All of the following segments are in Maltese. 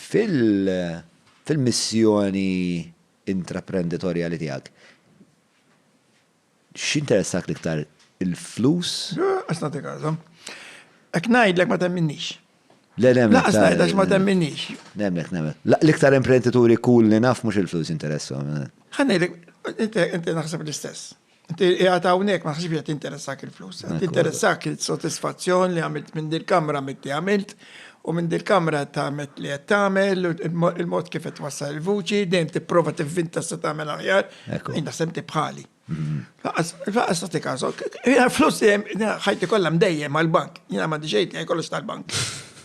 Fil-missjoni intraprenditorjali tiegħek, x'interessak l-iktar, il-flus? Issa nagħtik għażla. Jekk ngħidlek ma temminnix. Le, le, ma temminnix. Għax ma temminnix. Nemmnek, nemmnek. L-iktar imprendituri kull li naf mhux il-flus jinteressahom. Ħa ngħidlek, inti naħseb l-istess. Qiegħed hawnhekk ma naħsibx qed interessak il-flus, qed interessak il-sodisfazzjon li għamilt minn dil-kamra mitti għamilt u minn dil-kamra qed tagħmel li qed tagħmel il-mod kif qed wassal il-vuċi dejjem tipprova tivvinta se tagħmel aħjar. Jien naħseb tibħali. Faqas tagħti każok. Flus ħajti kollha mdejjem għall-bank. Jiena m'għandi xejn kollox tal-bank.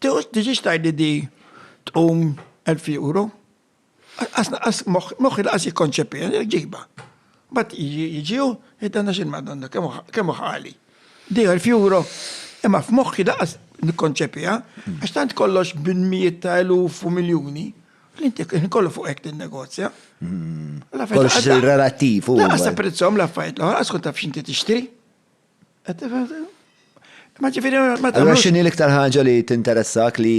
Tiġix tgħidli di tqum 1000 euro. Qas moħħi laqas jikkonċepija, ġiba. Bat jiġi u jiddanna xil madonna, kemm ħali. Di 1000 euro, imma f'moħħi laqas nikkonċepija, għax tant kollox bin mijiet ta' eluf u miljuni, li inti kollu fuq hekk negozja. Kollox relativ. Laqas apprezzhom l-affarijiet l-oħra, għas kont taf x'inti tixtri. Ma ġifiri, ma Allora xini l-iktar ħaġa li tinteressak li.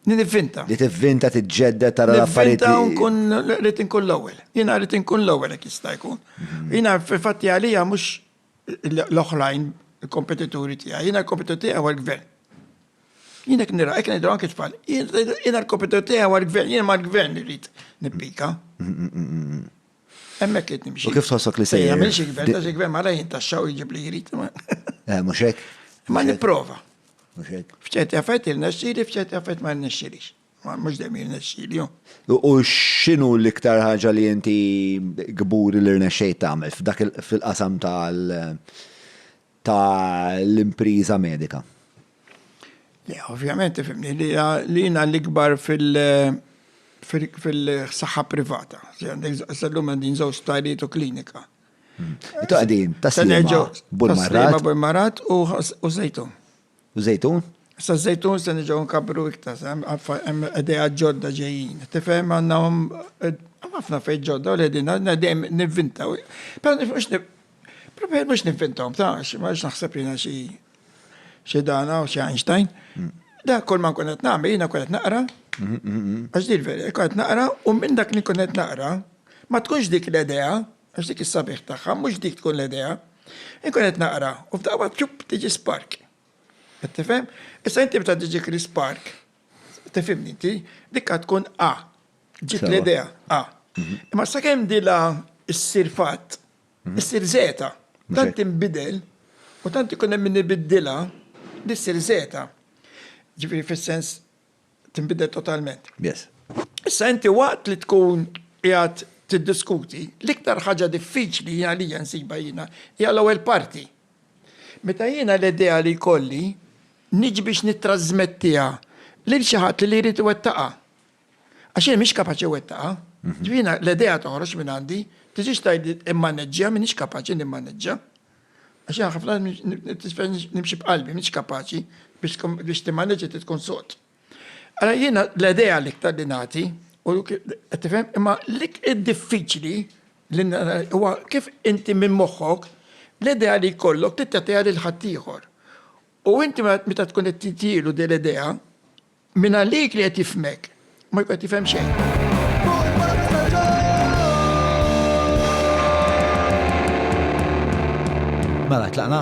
Nivvinta. Li tivvinta, tiġġedda, tara l-affarijiet. Nivvinta nkun rrit nkun l-ewwel. Jina rrit nkun l-ewwel jekk jista' jkun. Mhm. Jina fil-fatti għalija mhux l-oħrajn il-kompetituri tiegħi, jina l-kompetitur tiegħi huwa l-gvern. Jina jekk nira, jekk nidra anke tfal, jina l-kompetitur tiegħi huwa l-gvern, jina ma l-gvern irrid nippika. Mhm, mhm, Hemmhekk qed nimxi. U kif tħossok li se jagħmel? Jagħmel xi gvern, xi gvern mara jintaxxaw jiġib li jrid. Eh, mhux hekk. Ma nipprova. Mhux hekk. F'ċerti affett il-nexxili, f'ċerti affett ma nexxilix. Mhux dejjem il-nexxili. U x'inhu l-iktar ħaġa li inti gburi li rnexxejt tagħmel f'dak fil-qasam tal- ta' l-impriża medika. Le, ovvjament tifhimni li jiena l-ikbar fil- fil-saħħa privata. Sal-lum għandin żewġ sptarijiet u klinika. Intom qegħdin taslima Bul Marrat. Taslima Bul Marrat u Żejtun. U żejtun? Issa żejtun se niġgħu nkabbru iktar, hemm idea ġodda ġejjin. Tifhem għandna ħafna fejn ġodda u l-ħedin għandna dejjem nivvintaw. Però nifhmux Preferi mhux nivvintaw, ta' xi ma naħseb jiena xi xi dana u xi Einstein. Mm. Da kull ma nkun qed nagħmel jiena nkun qed naqra. Mm-hmm, mm-hmm. Għax dir veri, nkun qed naqra u minn dak li nkun qed naqra ma tkunx dik l-idea Għax dik is-sabiħ tagħha mhux dik tkun l-idea. Inkun qed naqra u f'daqqa ċupp tiġi spark. Qed tifhem? Issa inti meta tiġi kri spark, tifhimni inti, dik għad tkun A. Ġiet Sewa. l-idea A. Mhm. Imma sakemm dila ssir fatt, Mhm. issir zeta. Mhux Tant hekk. tinbidel u tant ikun hemm min ibiddilha li ssir zeta. Ġifieri fis-sens tinbidel totalment. Yes. Issa inti waqt li tkun qiegħed tiddiskuti, l-iktar ħaġa diffiċli għalija nsiba jiena hija l-ewwel parti. Meta jiena l-idea li jkolli niġi biex nittrażmettiha lil xi ħadd li jrid iwettaqha. Għax jien mhix kapaċi wettaqha. Mhm. Ġifieri l-idea toħroġ minn għandi, tiġix tgħid immaneġġja m'iniex kapaċi nimmaneġġja. Għax jien ħafna nisfel nimxi b'qalbi, mhix kapaċi biex timmaneġġi trid tkun sod. Ara jiena l-idea l-iktar li nagħti u qed tifhem imma lik id-diffiċli li huwa kif inti minn moħħok l-idea li jkollok trid tagħtiha lil ħaddieħor. U inti meta tkun qed titielu din l-idea, Mingħalik li qed jifhmek, ma jkun qed jifhem xejn. Mela, tlaqna?